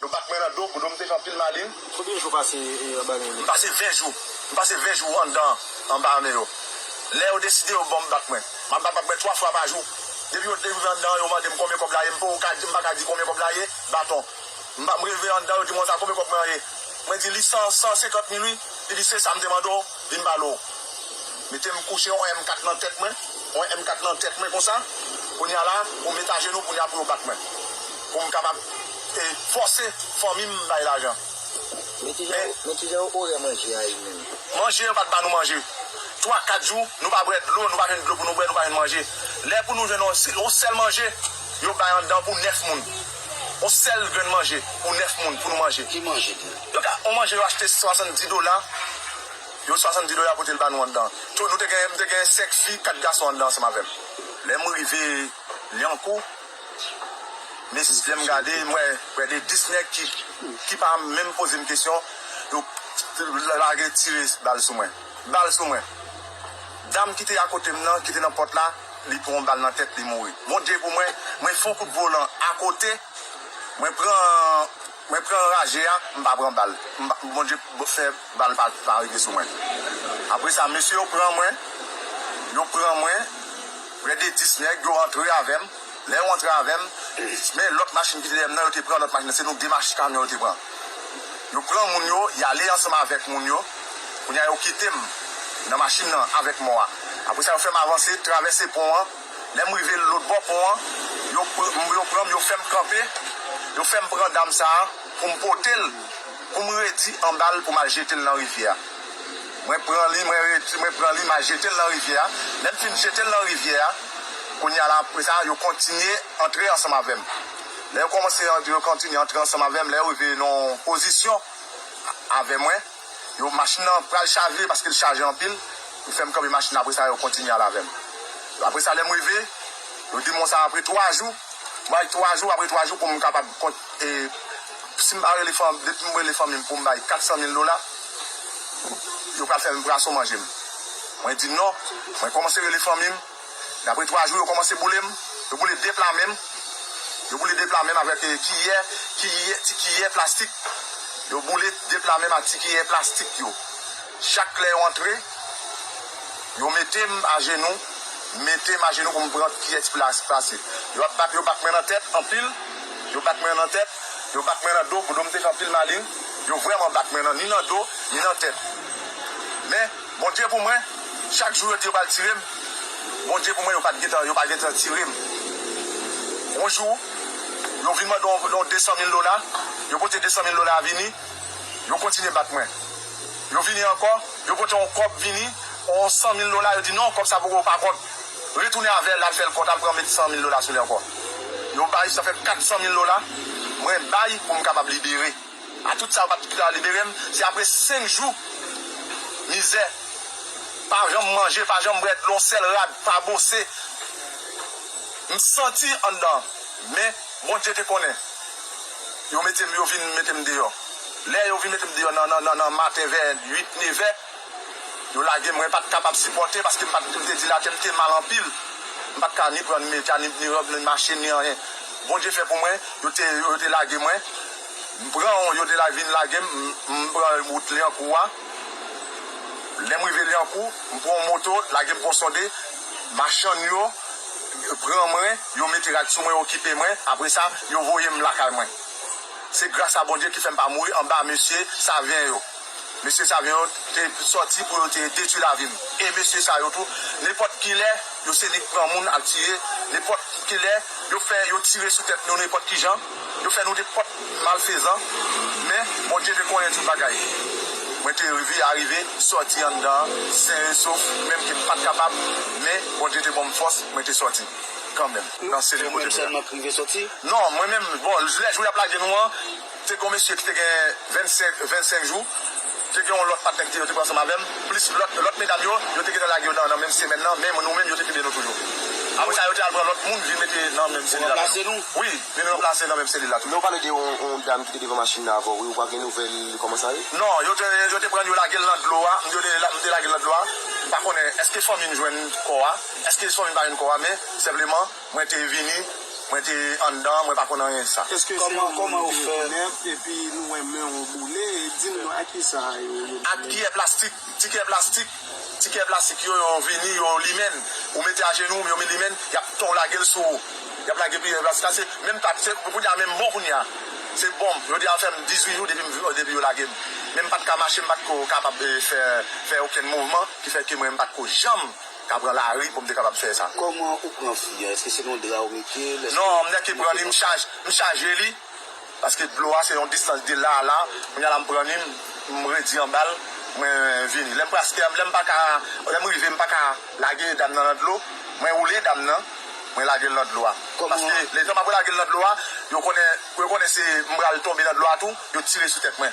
Nou bat mwen nan do, pou do m te fè anpil malin. Konbyen jou w pase anba men yo? M pase 20 jou. M pase 20 jou anndan anba men yo. Lè yo deside yo ban m bak mwen. M ap bat bak mwen 3 fwa pa jou. Depi yo rive anndan an yo mande m konbyen kòb la ye, m poko ka di, m pa ka di konbyen kòb la ye, baton. M rive anndan yo di mwen konsa konbyen kòb mwen an ye. Mwen di li 100, 150 mil wi. Li di se sa m te mande w, vin m bale w. Mete m kouche yon M4 nan tèt mwen, yon M4 nan tèt mwen konsa. Kounye a la, pou m met ajenou kounye a pou yo bat mwen. Pou m kapab. e fòse fanmi m bay lajan. Men ki jan yo orè manje a ye menm? Manje, yo pa t ba nou manje. Twa, kat jou, nou pa bwè dlo, nou pa jwenn dlo pou nou bwè, nou pa jwenn manje. Lè pou nou jwenn yon sèl manje, yo bay anndan pou nèf moun. Yon sèl grenn manje pou nèf moun pou nou manje. Ki manje tou? Yo ka, yon manje yo achte swasanndi dola, yo swasanndi dola pote l ba nou anndan. To, nou te gen, m te gen senk fi, kat gason anndan ansanm avè m. Lè m rive Lyankou. Mesi lem gade m we prè de 10 neg ki pa menm pozem kesyon yo lage tire bal sou mwen bal sou mwen dam kite akotem nan kite nan pot la li pran yon bal nan tet li mouri bon Dye pou mwen mwen fon kout volan akote mwen pran Mwen pran anraje a m pa pran bal bondye fè bal pa rive sou mwen apresa mesye yo pran mwen yo pran mwen prè de 10 nèg yo antre avèm lè yo antre avèm men lòt machin kite dèyèm nan yo te pran lòt machin se nou 2 machin kamyon yo te pran yo pran moun yo yale ansanm avèk moun yo kounya yo kitem nan machin nan avèk mò a apresa yo fèm avanse travèse pon an. Lè m rive lòt bò pon an, yo pran m, yo fè m kanpe, yo fè m pran dam sa a pou m pote l, pou m redi anba l pou m al jete l nan rivyè a. Mwen pran li, mwen redi, mwen pran li, m al jete l nan rivyè a. Lè m fin jete l nan rivyè a, kounye a la, apre sa, yo kontinye antre ansanm avè m. Lè yo kòmanse, yo kontinye antre ansanm avè m, lè yo rive nan yon pozisyon avè mwen. Yo machin nan pral chaje paske l chaje anpil, yo fè m kanpe machin nan apresa yo kontinye ale avè m. Apresa lè m rive, yo di m konsa apre 3 jou, m bay 3 jou apre 3 jou pou m kapab si m pa rele fanmi depi m rele fanmi m pou m bay 400 mil dola, yo pral fè m braso manje m. Mwen di non, mwen kòmanse rele fanmi m. Dapre 3 jou yo komanse boule m, yo boule 2 pla men m, yo boule 2 pla men m avèk kiyè, kiyè, ti kiyè plastik, yo boule 2 pla men m ak ti kiyè plastik yo. Chak lè yo antre, yo mete m ajenou, mete m ajenou pou m pran kiyè ti pla plastik. Yo ap bat, yo bat mwen nan tèt anpil, yo bat mwen nan tèt, yo bat mwen nan do, pou do m te fè anpil malin, yo vrèman bat mwen nan ni nan do, ni nan tèt. Men. Bondye pou mwen chak jou yo di yo pral tirem Bondye pou mwen yo pat gentan yo pa gentan tirem yon jou yo vin mande yon yon 200 mil dola yo pote 200 mil dola a vini yo kontinye bat mwen yo vini ankò yo pote yon kòb vini yon 100 mil dola yo di non kòb sa poko pa kont retounen avèl al fèl kont al pran met 100 mil dola sou li ankò yo bay sa fè 400 mil dola mwen bay poum kapab libere. A tout sa yo pat pita liberem se apre 5 jou mizè pa janm manje pa janm bwè dlo yon sèl rad pa bose m santi anndan men Bondye te konnen yo metem yo vin metem deyò lè yo vin metem deyò nan maten vè 8 nevè yo lagem mwen pat kapab sipòte paske m pat m te dilate m te mal anpil m pat ka ni pran ni mete ni rob ni mache ni anyen Bondye fè pou mwen yo te lage mwen. M pran yon yo delay vin lage m, m pran wout Lyankou a, lè m rive Lyankou m pran yon moto lage m Ponsonde, machann yo pran mwen yo mete rad sou mwen yo okipe mwen apre sa yo voye m lakay mwen. Se gras a Bondye ki fè m pa mouri anba mesye Savyen yo. Mesye sa yo te sòti pou yo te detwi lavi m. E mesye sa yo tou, nenpòt ki lè, yo se nik pran moun al tire, nenpòt ki lè, yo fè, yo tire sou tèt nou nenpòt ki jan, yo fè nou nenpòt malfezan. Men, Bondye te konnen tout bagay. Mwen te rive arive sòti anndan sen e sof, menm ke m pa t kapab, men Bondye te ban m fòs, mwen te sòti kanmenm nan selil kote m te a. Ou menm sèlman k rive sòti? Non, mwen menm, bon, lè jou y ap lage nou an, Te gen yon mesye ki te gen 25 jou, te gen yon lòt patnè ki te yo te pran ansanm avè m, plis lòt medam yo, yo te gentan lage yo nan menm semèn nan, men nou menm yo te kenbe nou toujou. Apre sa yo te al pran lòt moun vin mete nan menm selil avè nou. Wi, vin ranplase nan menm selil la toujou. Men ou pale de yon dam ki te devan machin nan avè w wi, ou pa gen nouvèl li kòman sa ye? Non, yo te pran l yo lage l nan dlo a, m te lage l nan dlo a, m pa konnen èske fanmi m jwenn kò a, èske fanmi m pa jwenn kò a, men senpleman. Mwen te vini, mwen te anndan an, mwen pa konn anyen de sa. Eske se yon moun ou te rekonèt epi nou wè men ou boule, di nou ak ki sa yo yo boule? Ak kiyè plastik, ti kiyè plastik, ti kiyè plastik yo, yo vini, yo limen n, ou mete ajenou ou, yo limen n, y ap tonw lage l sou ou, y ap lage kiyè plastik la, se menm pat, se pou kounya menm bon kounya, se bonm, yo deja fè m 18 jou depi m vin, depi yo lage m, men m pat ka mache, m pat ko kapab fè, fè okenn mouvman ki fè ke mwen m pat ko janm Ta pran lari poum te kapab fè sa. Koman ou pran fi an eske se nan yon dra ou metel eske Non mnè ki pran li m chaj m chaje li paske dlo a se yon distans de la a la kounya la m pran li m redi anbal mwen vini lèm praske lèm paka lèm rive m paka lage dam nan nan dlo mwen woule dam nan mwen lagel nan dlo a paske letan m apre lagel nan dlo a yo konnen yo konnen se m pral tonbe nan dlo a tou yo tire sou tèt mwen.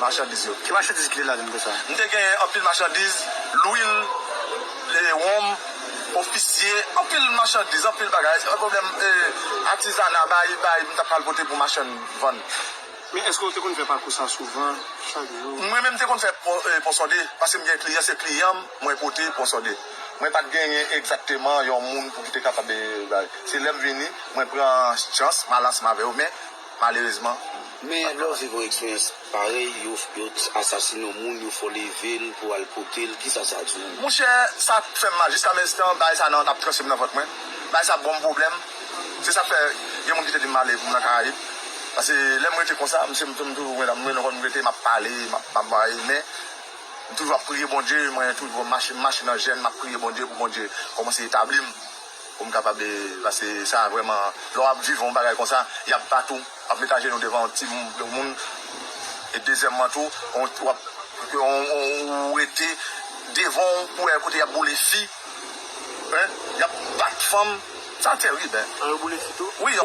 Machandiz yo. Ki machandiz ki te ladan l konsa? M te genyen anpil machandiz, lwil, wonm, ofisye, anpil machandiz, anpil bagay. Yon pwoblèm atizana, bayi bayi m t ap pral pote pou machann vann. Men èske ou te konn fè pakou sa souvan, chak jou? Mwen menm m te konn fè ponsonde, paske m gen kliyan, se kliyan m mwen pote ponsonde. Mwen pa t genyen egzakteman yon moun pou ki te kapab bay. Se lè m vini, mwen pran chans, m al ansanm avè yo. Men, malerezman Men lè w viv yon eksperyans parèy yo t asasine yon moun yo fè w leve l pou al pote l kisa sa di w? Monchè sa fèm mal jiska menstan bagay sa nan ap tranche m nan vant mwen bagay sa bonm pwoblèm se sak fè gen moun ki te dim male pou m nan karayib pase lèm rete konsa m toujou mwen menm lè m rete map pale map bay men m toujou ap priye Bondye mwen toujou mache nan jèn map priye Bondye pou Bondye kòmanse etabli m. Pou m kapab e paske sa vrèman lè w ap viv yon bagay konsa y ap bat ou w ap met ajenou devan yon ti yon moun e dezyèmman tou w ap ou rete devan w pou wè kote y ap boule fi y ap bat fanm sa tèrib hein wi.